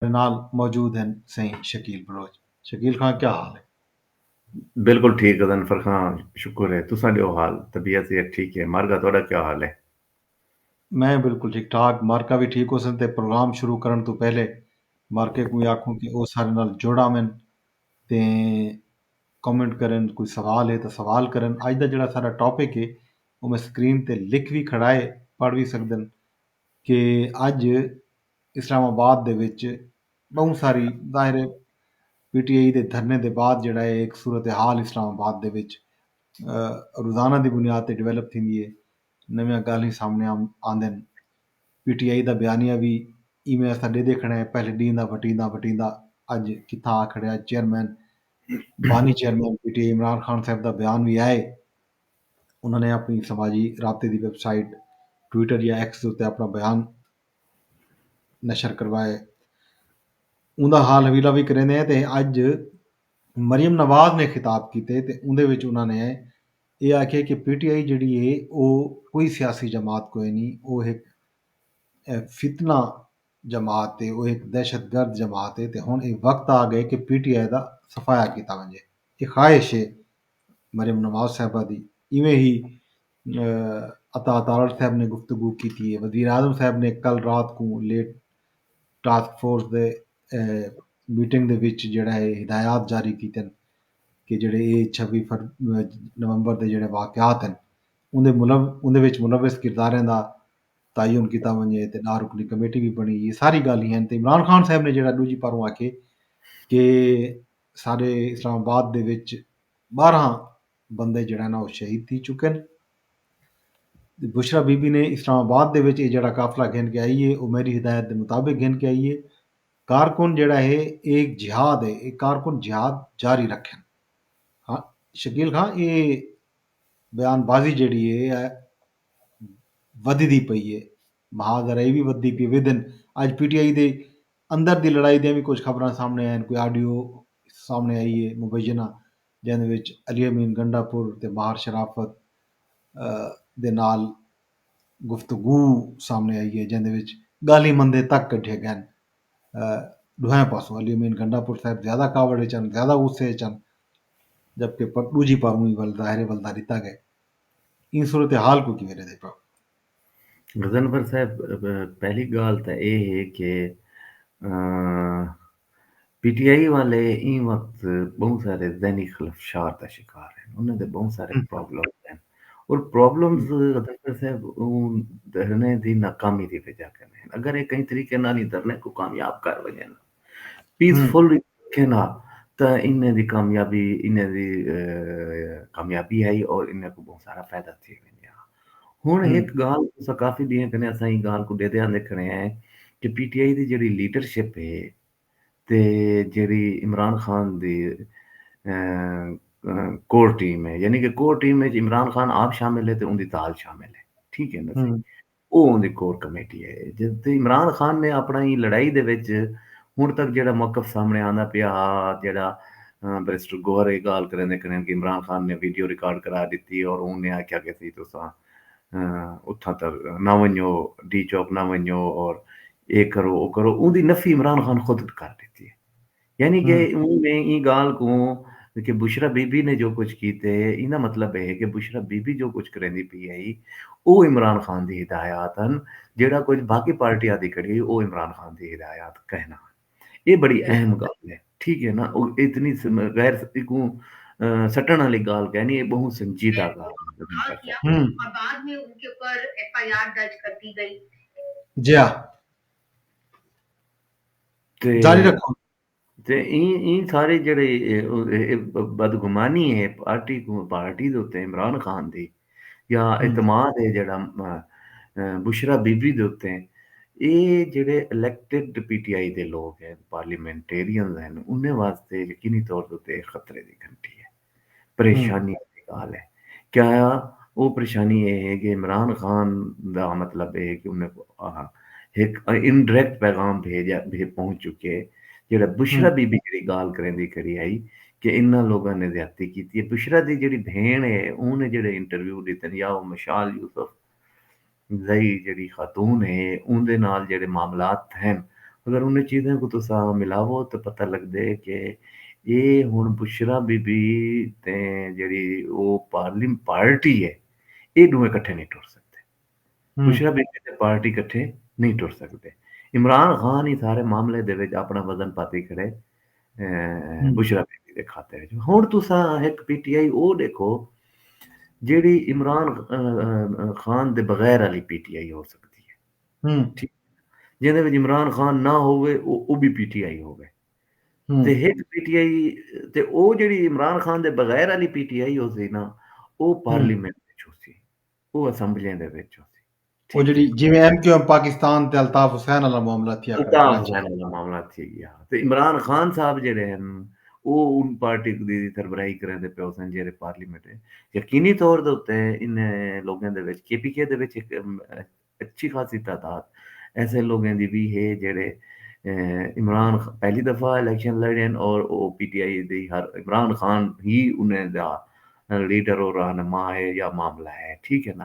میڈے نال موجود ہن سئیں شکیل بلوچ۔ شکیل خاں کیا حال ہے؟ بالکل ٹھیک غضنفر خاں شکر ہے تساں ڈیو حال طبیعت صحت ٹھیک ہے مارگا تہاڈا کیا حال ہے؟ میں بالکل ٹھیک ٹھاک مارکا وی ٹھیک ہوسن تے پروگرام شروع کرن توں پہلے مارکے کوں وی آکھوں کہ او سارے نال جڑ آون تے کمنٹ کرن کوئی سوال ہے تاں سوال کرن اج دا جیڑا ساڈا ٹاپک ہے او میں سکرین تے لکھ وی کھڑا ہے پڑھ وی سکدن کہ اج اسلام آباد دے وچ ٻہوں ساری ظاہر ہے پی ٹی آئی دے دھرنے دے بعد جڑا ہے ایک صورتحال اسلام آباد دے وچ روزانہ دی بنیاد تے ڈیولپ تھیندی ہے نویاں گالھیں سامنے آندن پی ٹی آئی دا بیانیہ وی ایویں اساں ڈیدھے کھڑے ہیں پہلے ڈیندا وٹیندا وٹیندا اج کتھاں آ کھڑے ہیں چیئرمین بانی chairman P T I Imran Khan صاحب دا بیان وی آئے انہوں نے اپنی سماجی رابطے دی ویب سائٹ ٹویٹر یا ایکس دے اپنا بیان نشر کروائے اوندا حال حویلہ بھی کریندے ہیں تے اج مریم نواز نے خطاب کیتے تے اوندے وچ انہاں نے اے آکھیا کہ پی ٹی آئی جڑی ہے او کوئی سیاسی جماعت کوئی نہیں او ایک فتنہ جماعت ہے او ایک دہشت گرد جماعت ہے تے ہن اے وقت آ گئے کہ پی ٹی آئی دا صفایا کیتا ونجے اے خواہش ہے مریم نواز صاحبہ دی ایویں ہی عطا تارڑ صاحب نے گفتگو کیتی اے۔ وزیراعظم صاحب نے کل رات کوں لیٹ ٹاسک فورس دے میٹنگ دے وچ جیڑھا اے ہدایات جاری کیتن کہ جیڑھے اے چھوی نومبر دے جیڑھے واقعات ہن اوندے اوندے وچ ملوث کرداریں دا تعین کیتا ونجے تے ݙاہ رکنی کمیٹی وی بݨی اے ساری گالھ ہن تے عمران خان صاحب نے جیڑھا ݙوجھی پاروں آکھیے کہ سارے اسلام آباد دے وچ ٻارہاں بندے جڑے نا او شہید تھی چکن۔ بشرا بی بی نے اسلام آباد دے وچ اے جڑا قافلہ گھن کے آئی اے او میری ہدایت دے مطابق گھن کے آئی اے۔ کارکن جڑا ہے اے ہک جہاد ہے اے کارکن جہاد جاری رکھن۔ ہاں شکیل خان اے بیان بازی جڑی ہے اے ودھی دی پئی ہے۔ مہا ذرا اے وی ودھی پئی ودھن اج پی ٹی آئی دے اندر دی لڑائی دے وی کچھ خبراں سامنے آئین کوئی آڈیو سامنے آئی ہے مبینہ جیندے وچ علی امین گنڈا پور تے بہار شرافت دے نال گفتگو سامݨے آئی اے جیندے وچ ڳالھیں مندیں تک کڈھیے ڳئن۔ ݙوہیں پاسوں علی امین گنڈا پور صاحب زیادہ کاوڑ اچ ہن، زیادہ غصے اچ ہن جبکہ ݙوجھی پاروں وی ول ظاہر اے ول دا ݙتا ڳئے۔ ایں صورتحال کوں کیویں ݙیندے پئے او؟ غضنفر صاحب پہلی گالھ تاں اے ہے کہ پی ٹی آئی والے ایں وقت بہوں سارے ذہنی خلفشار دا شکار ہیں انہاں دے بہوں سارے پرابلمز ہیں اور پرابلمز غضنفر صاحب اوں دھرنے دی ناکامی دی وجہ کنے ہیں اگر اے کہیں طریقے نال ایں دھرنے کو کامیاب کر ونجن پیس فل رکھے نا تاں انہیں دی کامیابی انہیں دی کامیابی ہائی اور انہیں کو بہت سارا فائدہ تھی ویندے ہاں ہن ایک گال اسا کافی ڈیاں کنے اساں ای گال کو دے دیاں دے کھڑے ہیں کہ پی ٹی آئی دی جڑی لیڈرشپ ہے تے جڑی عمران خان دی کور ٹیم ہے یعنی کہ core team which Imran Khan آپ شامل ہے تے ان دی تال شامل ہے ٹھیک ہے نا او اوندی کور کمیٹی اے۔ جدوں عمران خان نے اپنڑاں ایں لڑائی دے وچ ہنڑ تک جیہڑا موقف سامنڑے آندا پیا ہا جیہڑا بیرسٹر گوہر اے گالھ کریندے کریندے کہ عمران خان نے ویڈیو ریکارڈ کرا ڈتی اور اوں نے آکھیا کہ سی تساں اتھاں تا نہ ونجو ڈی چوک نہ ونجو اور اے کرو او کرو اوندی نفی عمران خان خود کر ڈتی اے یعنی کہ اوں نے ایں گالھ کوں کہ بشرا بی بی نے جو کچھ کیتے ایندا مطلب اے ہے کہ بشرا بی بی جو کچھ کریندی پی ہئی او عمران خان دی ہدایات ہن جیڑھا کچھ باقی پارٹی آدی کھڑی ہئی او عمران خان دی ہدایات کہنا ہن اے بڑی اہم گالھ ہے ٹھیک ہے نا او اتنی غیر کو سٹن والی گالھ کہنی اے بہوں سنجیدہ گالھ ہے۔ جیا۔ جاری رکھو تے ایں ایں سارے جڑے بدگمانی ہے پارٹی کو پارٹی دے اوتے عمران خان دی یا اعتماد ہے جڑا بشرا بی بی دے اوتے اے جڑے الیکٹڈ پی ٹی آئی دے لوگ ہیں پارلیمنٹرینز ہیں انہیں واسطے یقینی طور تے خطرے دی گھنٹی ہے پریشانی دی گال ہے کیا او پریشانی اے ہے کہ عمران خان دا مطلب اے کہ انہیں ہک انڈریکٹ پیغام بھیجا بھے پہنچ چکے جیڑا بشرا بی بی جیڑی گال کریندی کھڑی ہئی کہ انہاں لوگاں نے زیادتی کیتی ہے بشرا دی جیڑی بھین ہے اوں نے جیڑے انٹرویو ڈیتن یا او مشال یوسف زئی جیڑھی خاتون ہے اوندے نال جیڑھے معاملات تھئن اگر انہیں چیزیں کوں تساں ملاوو تاں پتہ لگدے کہ اے ہن بشریٰ بی بی تے جیڑھی او پارلیم پارٹی ہے اے ڈوہیں کٹھے نئیں ٹر سگدے بشریٰ بی بی تے پارٹی کٹھے نئیں ٹر سگدے عمران خان ہی سارے معاملے دے وچ اپنا وزن پاتی کھڑے بشرا بی بی دے کھاتے وچ ہن تساں ہک پی ٹی آئی او ڈیکھو جیڑی عمران خان دے بغیر والی پی ٹی آئی ہو سکدی ہے ٹھیک جیندے وچ عمران خان نہ ہوے او بھی پی ٹی آئی ہوے تے ہک پی ٹی آئی تے او جیڑی عمران خان دے بغیر والی پی ٹی آئی ہوسی نا او پارلیمنٹ وچ ہوسی او اسمبلیاں دے وچ ہوسی او جڑی جویں ایم کیو ایم پاکستان تے الطاف حسین والا معاملہ تھیا کرے الطاف کراچی حسین والا معاملہ تھی گیا تے عمران خان صاحب جڑے ہن او ان پارٹی دی سربراہی کریندے پئے ہوسن جیرے پارلیمنٹ ہے یقینی طور دے اتے انہیں لوگیں دے وچ کے پی کے دے وچ ہک اچھی خاصی تعداد ایسے لوگیں دی وی ہے جیرے عمران خان پہلی دفعہ الیکشن لڑے ہن اور او پی ٹی آئی دی ہر عمران خان ہی انہیں دا لیڈر اور رہنما ہے یا معاملہ ہے ٹھیک ہے نا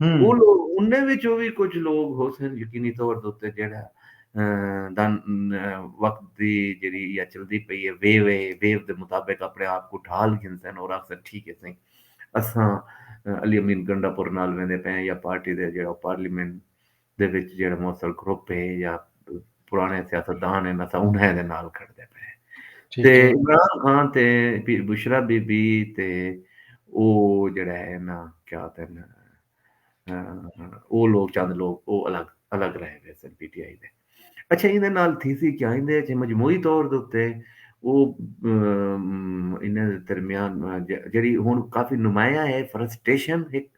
ہوں۔ انہیں وچوں وی کجھ لوگ ہوسن یقینی طور دے اتے جیڑھا دا وقت دی جیڑھی ایہا چلدی پئی ہے ویو ہے ویو دے مطابق اپنے آپ کوں ڈھال گھنسن اور آکھسن ٹھیک ہے سئیں اساں علی امین گنڈا پور نال ویندے پئے ہیں یا پارٹی دے جیڑھا پارلیمنٹ دے وچ جیہڑے موثر گروپ ہے یا پرانے سیاستدان ہیں اساں انہیں دے نال کھڑدے پے ہیں تے عمران خان تے بشرا بی بی تے او جڑا ہے نا کیا ہوتے ہیں او لوگ چند لوگ او الگ الگ رہے ہوئے سن پی ٹی آئی دے اچھا یہ دے نال تھی سی کیا ہندے اچھے مجموعی طور دوتے او انہیں دے درمیان جڑی ہون کافی نمایاں ہے فرسٹیشن ایک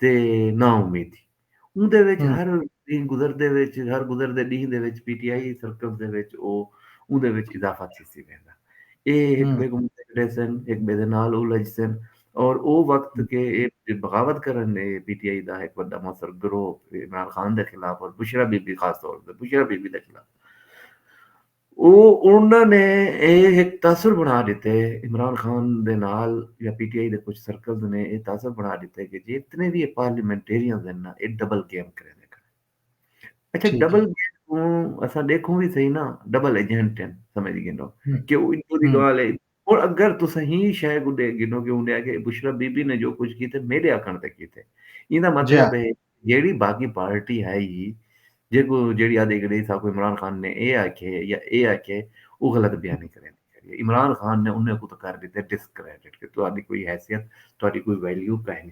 تے نا امیدی اوندے وچ ہر ݙینھ گزردے وچ ہر گزردے ݙینھ دے وچ پی ٹی آئی سرکلز دے وچ او اوندے وچ اضافہ تھیسی ویندا اے ہک ٻئے کوں ݙیسن ہک ٻئے دے نال الجھسن اور او وقت کہ اے بغاوت کرن اے پی ٹی آئی دا ہک وݙا موثر گروہ عمران خان دے خلاف اور بشریٰ بی بی خاص طور تے بشریٰ بی بی دے خلاف او انہاں نے اے ہک تاثر بݨا ݙتے عمران خان دے نال یا پی ٹی آئی دے کجھ سرکلز نے اے تاثر بݨا ݙتے کہ جتنے وی اے پارلیمنٹیرینز ہن نا اے ڈبل گیم کریندے کھڑے ہن اچھا ٹھیک ہے ڈبل گیم کوں اساں ݙیکھوں وی صحیح نا ڈبل ایجنٹ ہن سمجھ گھنو ہوں کہ او ادھر دی ہوں ڳالھ اے ہݨ اگر تساں ایں شئے کوں ݙیکھ گھنو کہ اوندے آکھیا اے بشری بی بی نے جو کجھ کیتے میݙے آکھݨ تے کیتے۔ ایندا مطلب اے جیڑھی باقی پارٹی ہئی ہی جیکوں جیڑھی آہدی کہ ݙیکھ ساکوں عمران خان نے اے آکھیے یا اے آکھیے او غلط بیانی کریندی کریے۔ عمران خان نے انھیں کوں تاں کر ݙتے ڈسکریڈٹ کہ تہاݙی کوئی حیثیت تہاݙی کوئی ویلیو کائنی۔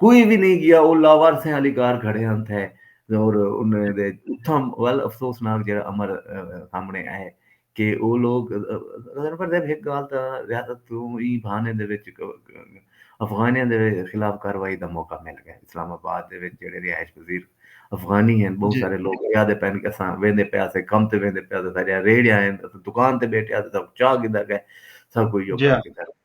کوئی وی نہیں گیا او لاوارثیں آلی کار کھڑے ہن تھے اور انہیں دے اتھاں ول افسوسناک جڑا امر سامنے آئے کہ او لوگ غزن پر دے بھیک گال تا ریاست تو ایں بھانے دے وچ افغانیاں دے خلاف کاروائی دا موقع مل گئے اسلام آباد دے وچ جڑے رہائش پذیر افغانی ہیں بہت سارے لوگ یا دے پہن کے ساں ویندے پیا سے کم تے ویندے پیا سے سارے ریڑیاں ہیں دکان تے بیٹھے ہیں سب چاہ گدھا گئے سب کوئی جو کر گدھا گئے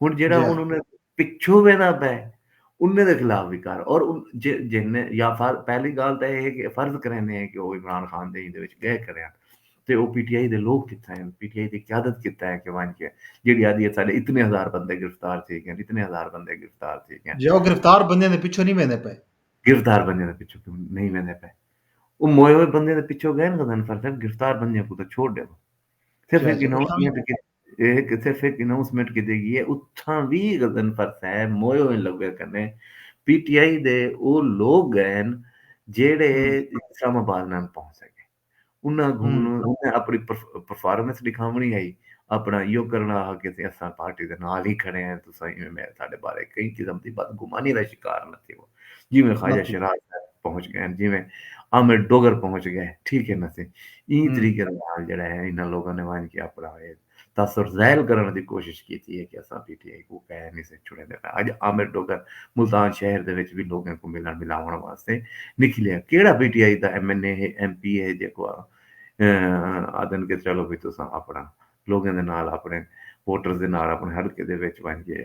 ہن جیڑا ہن انہاں دے پچھوں ویندا پئے انہاں دے خلاف وی کر اور جن یا پہلی گالھ تاں اے ہے کہ فرض کریندے ہیں کہ او عمران خان دے ایندے وچ گئے کھڑے ہن تے او پی ٹی آئی دے لوگ کتھے ہیں پی ٹی آئی دی قیادت کتھے ہے کہ ونج کے جیڑی آدھی ہے ساڈے اتنے ہزار بندے گرفتار تھی گئے اتنے ہزار بندے گرفتار تھی گئے جی او گرفتار بندے دے پیچھے نہیں ویندے پے گرفتار بندے دے پیچھے نہیں ویندے پے او موئے ہوئے بندے دے پیچھے گئے نا غزن فرض گرفتار بندے کو تو چھوڑ دے صرف ایک نو اے ہک صرف ہک اناؤنسمنٹ کیتی گی اے اتھاں وی غضنفر صاحب موئے ہوئیں لوگیں کنیں پی ٹی آئی دے او لوگ گئن جیڑھے اسلام آباد نان پہنچ سکے انہاں کوں انہاں اپنی پرفارمنس ڈکھاونڑی ہئی اپنا ایہو کرنڑا ہا کہ اساں پارٹی دے نال ہی کھڑے ہیں تساں ایویں ساڈے بارے کہیں قسم دی بدگمانی دا شکار نہ تھیو۔ جیویں خواجہ شیراز صاحب پہنچ گئے ہیں جیویں عامر ڈوگر پہنچ گئے ہیں ٹھیک ہے نا سی این طریقے نال جڑا ہے انہاں لوگوں نے وائن کے اپنا ہوئے تاثر زیل کرنے دی کوشش کی تھی ہے کہ اساں پی ٹی آئی کو کہہ نہیں سے چھوڑے دے آج عامر ڈوگر ملتان شہر دے وچ بھی لوگوں کو ملن ملاون واسطے نکلے ہیں کیڑا پی ٹی آئی دا ایم این اے ہے ایم پی اے ہے جے کو آدن کے چلو بھی تو ساں اپنا لوگوں دے نال اپنے ووٹرز دے نال اپنے حلقے دے وچ وائن کے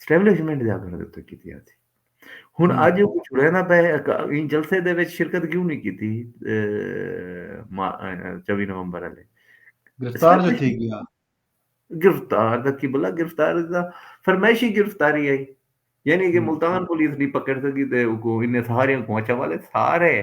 اسٹیبلشمنٹ دے آکھݨ دے اتے کیتی آتی ہن ہوں اج او چھڑینا پئے ایں جلسے دے وچ شرکت کیوں نہیں کیتی اے، ما- اے، چوی نومبر والے گرفتار جو تھی اسٹیبلشمنٹ گیا گرفتار دا کی بلا گرفتار دا فرمائشی گرفتاری آئی یعنی کہ ہوں ملتان پولیس نہیں پکڑ سکی تے اوکو انہیں سارے کو اچھا والے سارے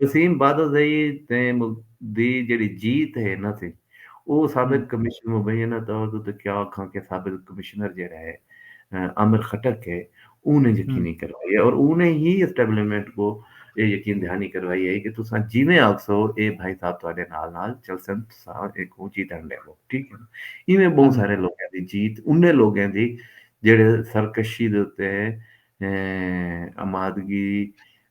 وسیم بادلزئی تے ملک دی جیڑھی جیت ہے نہ سی او سابق کمشن مبینہ طور تے تے کیا آکھاں کہ سابق کمشنر جیڑھا ہے عامر خٹک ہے اوں نے یقینی کروائی ہے اور اوں نے ہی اسٹیبلمنٹ کو اے یقین دہانی کروائی ہے کہ تساں جیویں آکھسو اے بھائی صاحب تہاڈے نال نال چلسن تساں ایکوں جیتن ڈیوو ٹھیک ہے ایویں بہوں سارے لوگاں دی جیت انہیں لوگاں دی جیڑھے سرکشی دے اتے امادگی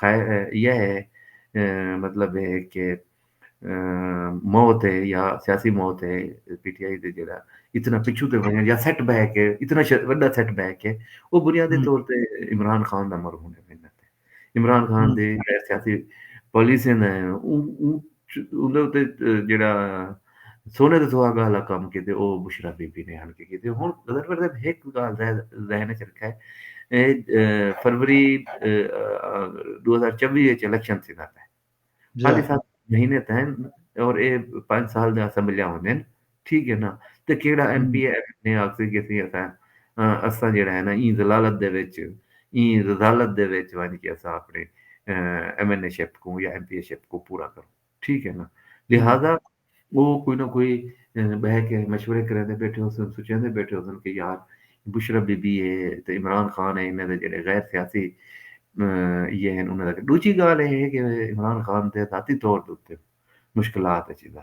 خیر یہ ہے مطلب ہے کہ موت ہے یا سیاسی موت ہے پی ٹی آئی دے جڑا اتنا پچھو تے ونجن یا سیٹ بیک ہے اتنا وڈا سیٹ بیک ہے وہ بنیادی طور تے عمران خان دا مر ہونے ونجن تے عمران خان دے سیاسی پالیسیاں نے اون اوندے اتے جیڑھا سونے دے سہاگاں آلا کم کیتے او بشرا بی بی نے آن کے کیتے ہن غزل پر صاحب ہک گال ذہن وچ رکھا ہے اے فروری 2024 وچ الیکشن تھیندا پے جی ہاں۔ پاکستان مہینے تین اور اے پانچ سال دے اسمبلیاں ہوندین ٹھیک ہے نا تے کیڑا ایم پی اے نے آکھسی کہ سی اساں اساں جیڑا ہے نا ایں ذلالت دے وچ ایں رزالت دے وچ ونج کے اساں اپنے ایم این اے شپ کوں یا ایم پی اے شپ کو پورا کروں ٹھیک ہے نا لہذا او کوئی نہ کوئی بہ کے مشورے کریندے بیٹھے ہو سن سوچیندے بیٹھے ہو سن کہ یار بشرا بی بی اے تے عمران خان اے انہاں دے جڑے غیر سیاسی یہ ہیں انہاں دا دوجی گال اے ہے کہ عمران خان دے ذاتی طور دے مشکلات اچ دا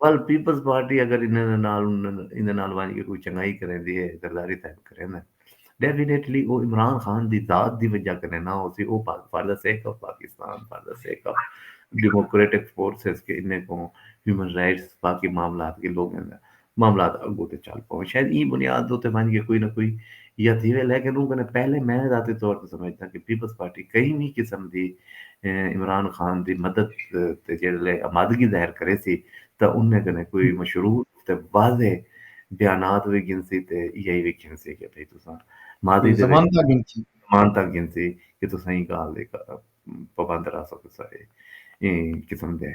ول پیپلز پارٹی اگر انہاں دے نال ایندے نال ونج کے کوئی چنگائی کریندی ہے غداری تاں کریندن ڈیفینیٹلی او عمران خان دی ذات دی وجہ کنے نہ ہوسی او for the sake of Pakistan for the sake of democratic forces کہ انہیں کوں ہیومن رائٹس باقی معاملات کے لوگیں دا معاملات اگوں تے چل پاون شاید ایں بنیاد دے تے ونج کے کوئی نہ کوئی یا تھیوے لیکن اوں کنے پہلے میں ذاتی طور تے سمجھدا کہ پیپلز پارٹی کہیں وی قسم دی عمران خان دی مدد تے جیڑھے لے آمادگی ظاہر کریسی تاں انہیں کنے کوئی مشروع تے واضح بیانات وی گھنسی تے یہی وی گھنسی کہ بھئی تساں ماضی دے وچ زمانتاں گھنسی کہ تساں ایں گالھ دی پابند رہ سگسا ہے۔ ایں قسم دے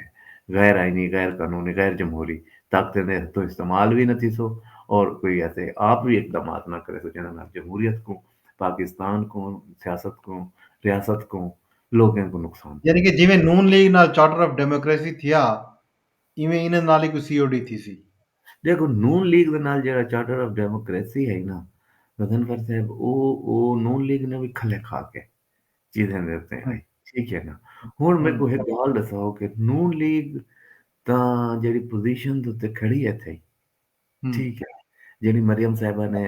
غیر آئینی، غیر قانونی، غیر جمہوری طاقتیں دے ہتھوں استعمال وی نہ تھیسو اور کوئی ایسے آپ وی اقدامات نہ کریسو جنہاں نال جمہوریت کوں، پاکستان کوں، سیاست کوں، ریاست کوں، لوکیں کوں نقصان پہنچے۔ یعنی کہ جیویں نون لیگ نال چارٹر آف ڈیموکریسی تھیا ایویں انہاں نال وی کوئی سی او ڈی تھیسی۔ ڈیکھو نون لیگ دے نال جیہڑا چارٹر آف ڈیموکریسی ہئی نا غضنفر صاحب او او نون لیگ نے وی کھلے کھا کے چیزیں دے اتے ہاں جی۔ ٹھیک ہے نا ہن میرے کو ایک گال دساؤ کہ نون لیگ تا جڑی پوزیشن دے اتے کھڑی ہے تھئی ٹھیک ہے جڑی مریم صاحبہ نے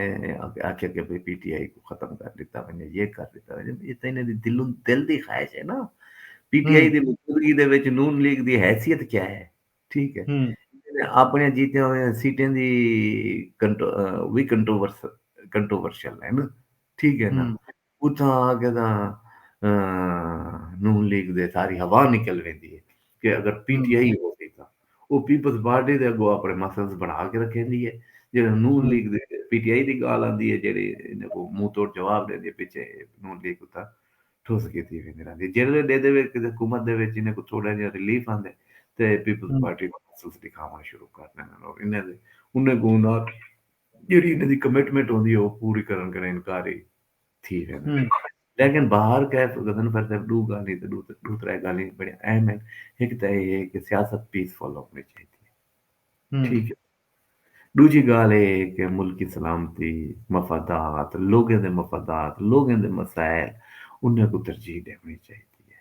آکھیا کہ بھئی پی ٹی آئی کو ختم کر دیتا ونجے یہ کر دیتا ونجے یہ تے انہاں دی دل دل دی خواہش ہے نا پی ٹی آئی دی موجودگی دے وچ نون لیگ دی حیثیت کیا ہے ٹھیک ہے اپنے جیتے ہوئے سیٹیں دی وی کنٹروورشل ہے نا ٹھیک ہے نا اتھاں آ کے تاں نون لیگ دے ساری ہوا نکل ویندی ہے کہ اگر پی ٹی آئی ہوسی تاں او پیپلز پارٹی دے اگو اپنے مسلز بنا کے رکھیندی ہے جیڑھے نون لیگ دے پی ٹی آئی دی گال آندی ہے جیڑھی انہاں کو منہ توڑ جواب دیندی ہے پچھے نون لیگ اتھاں ٹھوس کیتی ویندی رہندی ہے جیڑھے ڈے دے وچ حکومت دے وچ انہاں کو تھوڑا جہا ریلیف آندے تے پیپلز پارٹی مسلز دکھاوݨ شروع کر ݙیندن اور انہاں دے انہاں کو انہاں جیڑھی انہاں دی کمٹمنٹ ہوندی ہے او پوری کرݨ کنوں انکاری تھی ویندن لیکن بہر کیف غضنفر صاحب ݙو ڳالھیں تے ݙو ݙو ترے ڳالھیں بڑی اہم ہن ہک تاں اے ہے کہ سیاست پیس فل ہونی چاہیدی ہے ٹھیک ہے ݙوجھی ڳالھ اے ہے کہ ملکی سلامتی مفادات لوگیں دے مفادات لوگیں دے مسائل انہاں کوں ترجیح ݙیوݨی چاہیدی ہے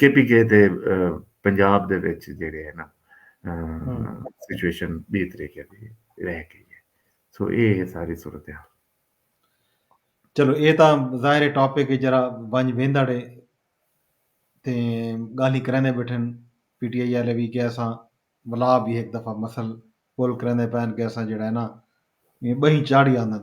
کے پی کے تے پنجاب دے وچ جیڑے ہے نا سچویشن بی طریقے دی رہ گئی ہے سو اے ہے ساری صورتحال چلو اے تاں ظاہر ٹاپک جرا ونج ویندا ڈے تے گالی کریندے بیٹھن پی ٹی آئی والے بھی کہ اساں ولا بھی ایک دفعہ مسل کول کریندے پین کہ اساں جڑا ہے نا بہی چاڑی آندن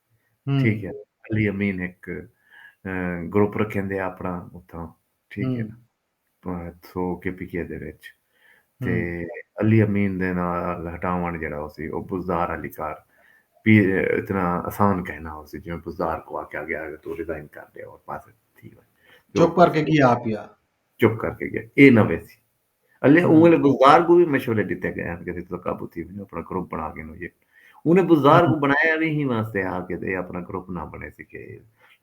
ٹھیک ہے علی امین ہک گروپ رکھیندے اپنا اتھاں ٹھیک ہے نا سو کے پی کے دے وچ تے علی امین دے نال ہٹاون جڑا ہوسی او بزدار علی کار پی اتنا آسان کہنا ہوسی جویں بزدار کو آکھیا گیا کہ تو ریزائن کر دے اور پاس تھی چپ کر کے گیا پیا چپ کر کے گیا اے نہ ویسی اللہ اوں ویلے بزدار کو وی مشورے ڈتے گئے ہن کہ تساں قابو تھی ونجو اپنا گروپ بنا گھنو یہ انہیں بزدار کو بنایا وی ہی واسطے ہا کہ اے اپنا گروپ نہ بنے سی کہ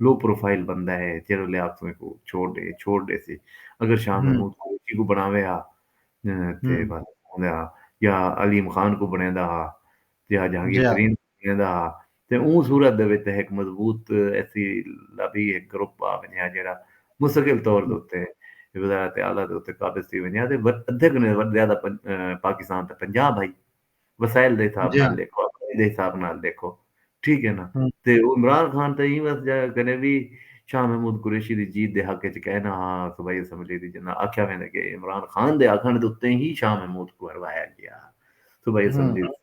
لو پروفائل بندہ ہے جیڑا لے آپ توں کو چھوڑ دے چھوڑ دے سی اگر شاہ محمود کو چی کو بناوے ہا تے بس یا علیم خان کو بنیندا ہا یا جہانگیر ترین ویندا ہا تے اوں صورت دے وچ تے ہک مضبوط ایسی لابی ہک گروپ آ ونجا جیڑھا مستقل طور دے اتے وزارت اعلی دے اتے قابض تھی ونجا تے ادھے کنوں زیادہ پاکستان تے پنجاہ بھائی وسائل دے حساب نال ڈیکھو آبادی دے حساب نال ڈیکھو ٹھیک ہے نا تے او عمران خان تے ایں وس جا کنے وی شاہ محمود قریشی دی جیت دے حق وچ کہنا ہا صوبائی اسمبلی دی جنہاں آکھیا ویندے کہ عمران خان دے آکھن دے اتے ہی شاہ محمود کوں ہروایا گیا ہا صوبائی اسمبلی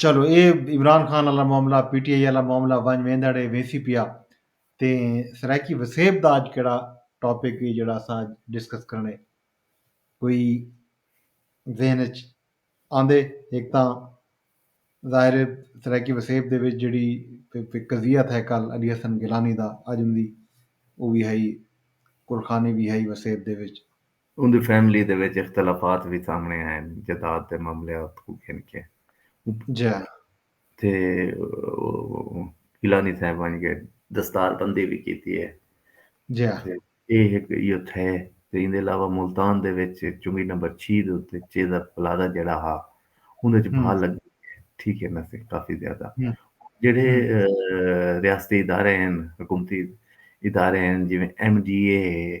چلو اے عمران خان آلا معاملہ پی ٹی آئی آلا معاملہ ونج ویندڑ اے ویسی پیا تے سرائیکی وسیب دا اج کیڑا ٹاپک اے جیڑا اساں اج ڈسکس کرنے کوئی ذہن اچ آندے ہک تاں ظاہر اے سرائیکی وسیب دے وچ جیڑی قضیہ تھا کل علی حسن گیلانی دا اج اوندی او وی ہئی کلخانی وی ہئی وسیب دے وچ اوندی فیملی دے وچ اختلافات وی سامنڑے آئن جداد دے معاملیات کوں گھن کے جی تے گیلانی صاحب ونج کے دستار بندی وی کیتی ہے جی تے اے ہک ایو تھے تے ایندے علاوہ ملتان دے وچ چنگی نمبر چھی دے اتے چیزا پلازا جیڑا ہا اوندے وچ بھا لگ ٹھیک ہے نا سی کافی زیادہ جیڑے ریاستی ادارے ہیں حکومتی ادارے ہیں جویں ایم ڈی اے ہے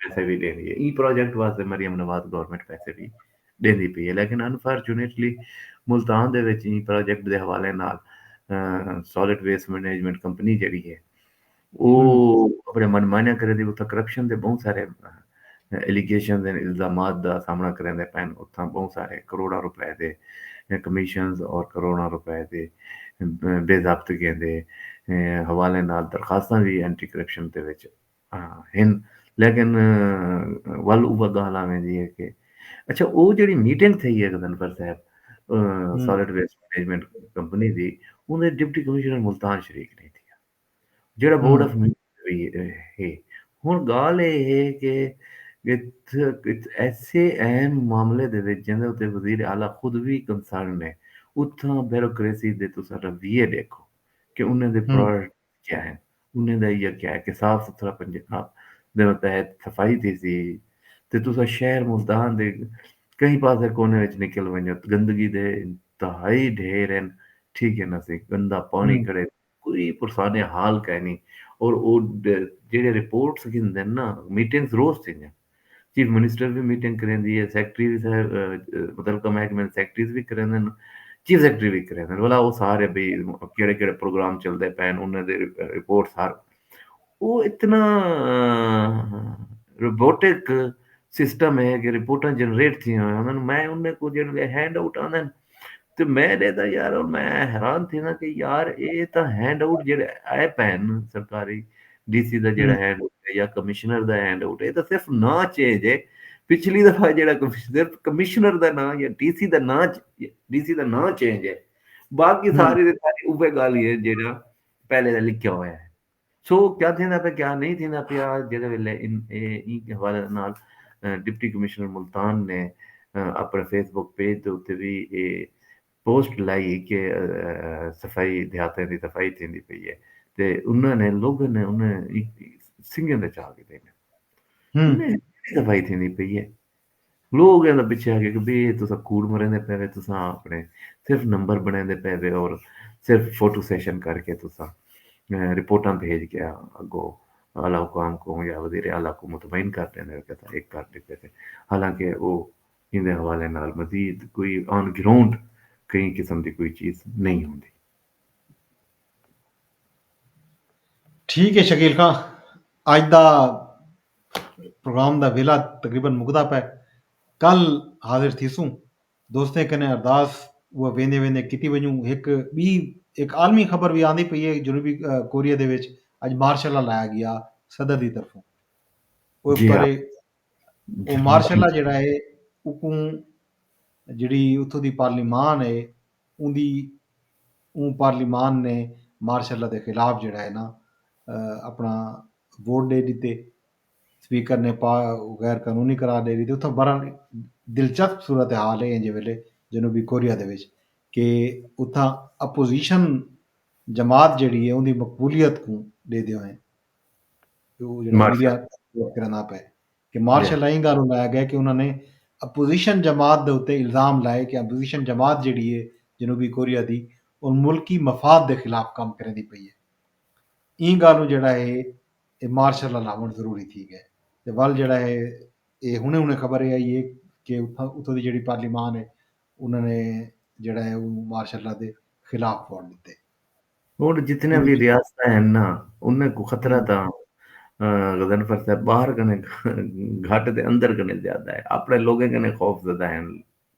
پیسے وی ڈیندی ہے ایں پروجیکٹ واسطے مریم نواز گورنمنٹ پیسے وی ڈیندی پئی ہے لیکن انفارچونیٹلی ملتان دے وچ ایں پروجیکٹ دے حوالے نال سالڈ ویسٹ مینجمنٹ کمپنی جیڑی ہے او اپنے من مانیاں کریندی اتھاں کرپشن دے بہوں سارے ایلیگیشن دے الزامات دا سامنا کریندے پئے اتھاں بہوں سارے کروڑاں روپے دے کمیشنز اور کروڑاں روپے دے بے ضابطگیاں دے حوالے نال درخواستاں وی اینٹی کرپشن دے وچ ہن لیکن ول اوہ گال آ ویندی ہے کہ اچھا او جڑی میٹنگ تھئی ہے گدنفر صاحب سالڈ ویسٹ مینجمنٹ کمپنی دی اون دے ڈپٹی کمشنر ملتان شریک نہیں تھیا جڑا بورڈ آف ہے ہن گال اے ہے کہ ایسے اہم معاملے دے وچ جن دے وزیر اعلی خود وی کنسرن ہے اتھاں بیوروکریسی دے تساں رویے دیکھو کہ انہاں دے پروڈکٹ کیا ہن انہیں دا ایہا کیا ہے کہ صاف ستھرا پنجاب دے متحد صفائی تھیسی تے تساں شہر ملتان دے کہیں پاسے کونے وچ نکل ونجو تاں گندگی دے انتہائی ڈھیر ہن ٹھیک ہے نہ سی گندا پانی کھڑے کوئی پرسان حال کائنی اور او جیڑھے رپورٹس گھندن نا میٹنگز روز تھیندیاں۔ چیف منسٹر وی میٹنگ کریندی اے، سیکرٹری وی متعلقہ محکمے دے سیکرٹریز وی کریندن، چیف سیکرٹری وی کریندن ولا او سارے بھئی کیڑے کیڑے پروگرام چلدے پئے ہن انہاں دی رپورٹس ہر او اتنا روبوٹک سسٹم اے کہ رپورٹاں جنریٹ تھیاں ہویاں ہن میں انہاں کوں جیڑھے ہینڈ آؤٹ آندن۔ تے میں ݙے تاں یار ہݨ میں حیران تھینداں کہ یار اے تاں ہینڈ آؤٹ جیڑھے آئے پئے ہن سرکاری ڈی سی دا جیڑھا ہینڈ آؤٹ ہے یا کمشنر دا ہینڈ آؤٹ ہے اے تاں صرف ناں چینج ہے پچھلی دفعہ جیڑھا صرف کمشنر دا ناں یا ڈی سی دا ناں ڈی سی دا ناں چینج ہے باقی ساری دی ساری اوہے ڳالھ ہی ہے جیڑھا پہلے دا لکھیا ہویا ہے سو کیا تھیندا پیا کیا نئیں تھیندا پیا جیڑھے ویلے ایں حوالے نال ڈپٹی کمشنر ملتان نے اپنڑے فیس بک پیج دے اتے وی اے پوسٹ لائی کہ صفائی دیہاتیں دی صفائی تھیندی پئی اے تے انہاں نے لوگاں نے انہاں سنگھیں تے چا گھدے نے انہاں دی صفائی تھیندی پئی اے۔ لوگ ایندا پچھے آکھے کہ بھئی اے تساں کوڑ مریندے پئے وے تساں اپنے صرف نمبر بنڑیندے پئے وے اور صرف فوٹو سیشن کر کے تساں رپورٹاں بھیج کے اگو اعلی حکام کوں یا وزیر اعلی کوں مطمئن کر ڈیندے ہو کہ اساں اے کر ڈتے سے حالانکہ او ایندے حوالے نال مزید کوئی آن گراؤنڈ کہیں قسم دی کوئی چیز نہیں ہوندی۔ ٹھیک ہے شکیل خاں اج دا پروگرام دا ویلا تقریبا مکدا پے کل حاضر تھیسوں دوستیں کنے ارداس وہ ویندے ویندے کیتی ونجوں ایک بی ایک عالمی خبر بھی آندی پئی ہے جنوبی کوریا دے وچ اج مارشل لا لایا گیا صدر دی طرفوں وہ جی ہاں۔ وہ مارشل لا جڑا ہے اکوں جڑی اتھوں دی پارلیمان ہے اون دی اوں پارلیمان نے مارشل لا دے خلاف جیڑھا ہے نا اپنا ووٹ ڈے ڈتے، سپیکر نے پا غیر قانونی قرار ڈے ڈتے اتھاں برحال دلچسپ صورتحال ہے اینجھے ویلے جنوبی کوریا دے وچ کہ اتھاں اپوزیشن جماعت جیڑھی ہے اوندی مقبولیت کوں ڈیدے ہوئیں او جیڑھا میڈیا ووٹ کرندا پئے۔ کہ مارشل ایں گالھوں لایا گئے کہ انہاں نے اپوزیشن جماعت دے اتے الزام لائے کہ اپوزیشن جماعت جیڑھی اے جنوبی کوریا دی او ملکی مفاد دے خلاف کم کریندی پئی اے ایں گالھوں جیڑھا اے اے مارشل لا لاوݨ ضروری تھی گئے تے ول جیڑھا اے اے ہنے ہنے خبر اے آئی اے کہ اتھاں دی جیڑھی پارلیمان اے انہاں نے جیڑھا اے او مارشل لا دے خلاف ووٹ ݙتے۔ ہݨ جتنیاں وی ریاستاں ہن نا انھاں کوں خطرہ تاں غضنفر صاحب ٻاہر کنیں گھٹ تے اندر کنیں زیادہ ہے اپݨے لوکیں کنیں خوف زدہ ہن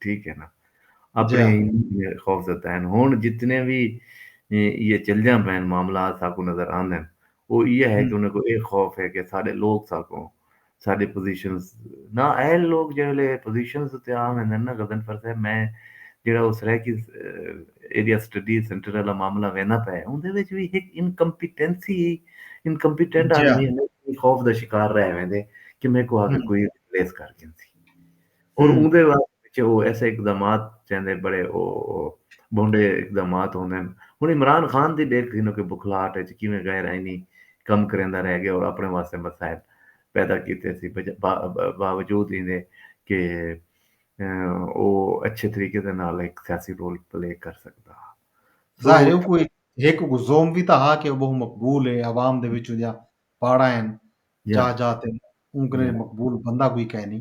ٹھیک ہے نا اپݨے خوف زدہ ہن ہݨ جتنے وی یہ چلجاں پئن معاملات ساکوں نظر آندن او یہ ہے کہ انھاں کوں اے خوف ہے کہ ساݙے لوک ساکوں ساڈے پوزیشنز نا اہل لوگ جڑے ویلے پوزیشنز تے عام ہندن نا غزن فرض ہے میں جڑا او سرائیکی ایریا سٹڈی سینٹر والا معاملہ وینا پے اوندے وچ وی ہک انکمپیٹنسی ہی انکمپیٹنٹ آدمی ہمیں خوف دا شکار رہ ویندے کہ میں کو آگے کوئی ریپلیس کر گھنسی اور اوندے واسطے پیچھے او ایسے اقدامات چیندے بڑے او بھونڈے اقدامات ہوندن ہن عمران خان دی ڈیکھ گھنو کہ بکھلاہٹ اچ کیویں غیر آئینی کم کریندا رہ گئے اور اپنے واسطے مسائل پیدا کیتے سی باوجود ایندے کہ او اچھے طریقے دے نال ہک سیاسی رول پلے کر سکدا ہا ظاہر ہے کوئی ہک کو زوم وی تاں ہا کہ او بہت مقبول ہے عوام دے وچوں جا پاڑا ہیں جا جا تے اون کنے مقبول بندہ کوئی کہنی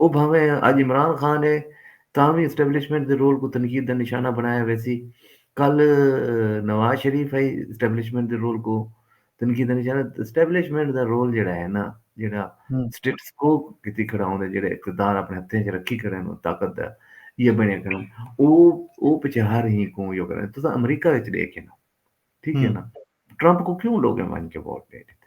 او بھانویں اج عمران خان اے تاں وی اسٹیبلشمنٹ دے رول کوں تنقید دا نشانہ بݨایا ویسی، کل نواز شریف ہئی اسٹیبلشمنٹ دے رول کوں تنقید دا نشانہ، اسٹیبلشمنٹ دا رول جیڑھا ہے نا جیڑھا سٹیٹس کو کیتی کھڑا ہوندا جیڑھے اقتدار اپݨے ہتھیں اچ رکھی کھڑے نوں طاقت دا یہ بݨے کھڑے او او پچھے ہر ہی کوں یو کرے تساں امریکہ وچ ݙیکھے نا ٹھیک ہے نا ٹرمپ کو کیوں لوگیں ونج کے ووٹ ݙے ݙتے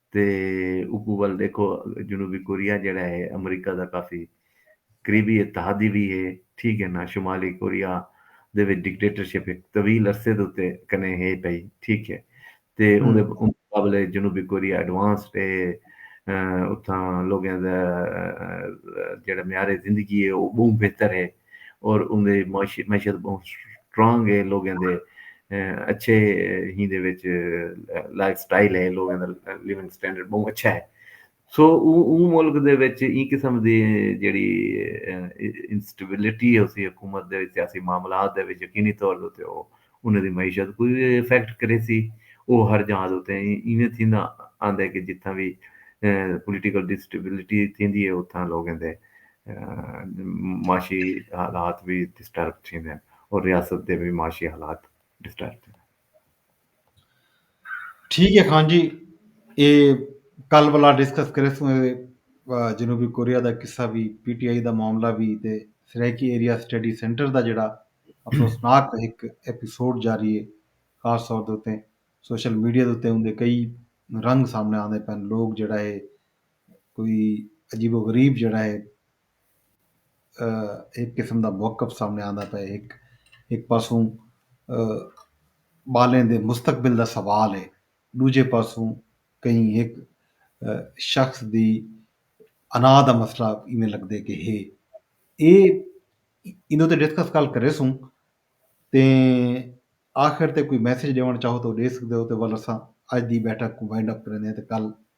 تے اوکوں ول ڈیکھو جنوبی کوریا جیڑھا ہے امریکہ دا کافی قریبی اتحادی وی ہے ٹھیک ہے نا شمالی کوریا دے وچ ڈکٹیٹرشپ ہک طویل عرصے دے اتے کنے ہے پئی ٹھیک ہے تے اوندے مقابلے جنوبی کوریا ایڈوانسڈ ہے اتھاں لوگیں دا جیڑھا معیار زندگی ہے او بہوں بہتر ہے۔ اور اوندی معاشی معیشت بہوں سٹرانگ ہے لوگیں دے اچھے ہی دے وچ لائف سٹائل ہے لوگیں دا لیونگ سٹینڈرڈ بہوں اچھا ہے سو اوں ملک دے وچ ایں قسم دی جیڑی انسٹیبلٹی ہوسی حکومت دے سیاسی معاملات دے وچ یقینی طور دے اتے او انہاں دی معیشت کوں وی افیکٹ کریسی او ہر جاں دے اتے ایویں تھیندا آندے کہ جتھاں وی پولیٹیکل انسٹیبلٹی تھیندی ہے اتھاں لوگیں دے معاشی حالات وی ڈسٹرب تھیندن اور ریاست دے وی معاشی حالات ڈسٹرب تھیندن۔ ٹھیک ہے خان جی اے کل والا ڈسکس کریسوں اے جنوبی کوریا دا قصہ وی پی ٹی آئی دا معاملہ وی تے سرائیکی ایریا اسٹڈی سینٹر دا جڑا افسوسناک ہک ایپیسوڈ جاری ہے خاص طور دے اتے سوشل میڈیا دے اتے اوندے کئی رنگ سامنے آندے پن لوگ جڑا ہے کوئی عجیب و غریب جیڑھا ہے ہک قسم دا موقف سامنے آندا پئے ہک ہک پاسوں ٻالیں دے مستقبل دا سوال ہے ݙوجھے پاسوں کہیں ہک شخص دی انا دا مسئلہ ایویں لڳدے کہ ہے اے ایندے اتے ڈسکس کل کریسوں تے آخر تے کوئی میسج ݙیوݨ چاہو تاں او ݙے سڳدے او تے ول اساں اڄ دی بیٹھک کوں وائنڈ اپ کریندے ہیں تے کل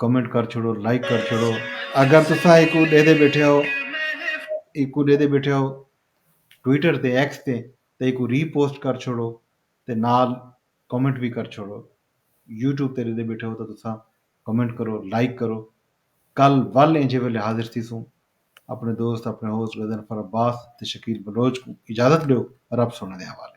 کمنٹ کر چھوڑو لائک کر چھوڑو اگر تسا ایک ڈے دے بیٹھے ہو ایک ڈے دے بیٹھے ہو ٹویٹر تے ایکس تے تے ایک ری پوسٹ کر چھوڑو تے نال کمنٹ بھی کر چھوڑو یوٹیوب تے دے بیٹھے ہو تو تسا کمنٹ کرو لائک کرو کل ول انجے ویلے حاضر تھی سوں اپنے دوست اپنے ہوسٹ غزن فر عباس تے شکیل بلوچ کو اجازت دیو رب سونے دے حوالے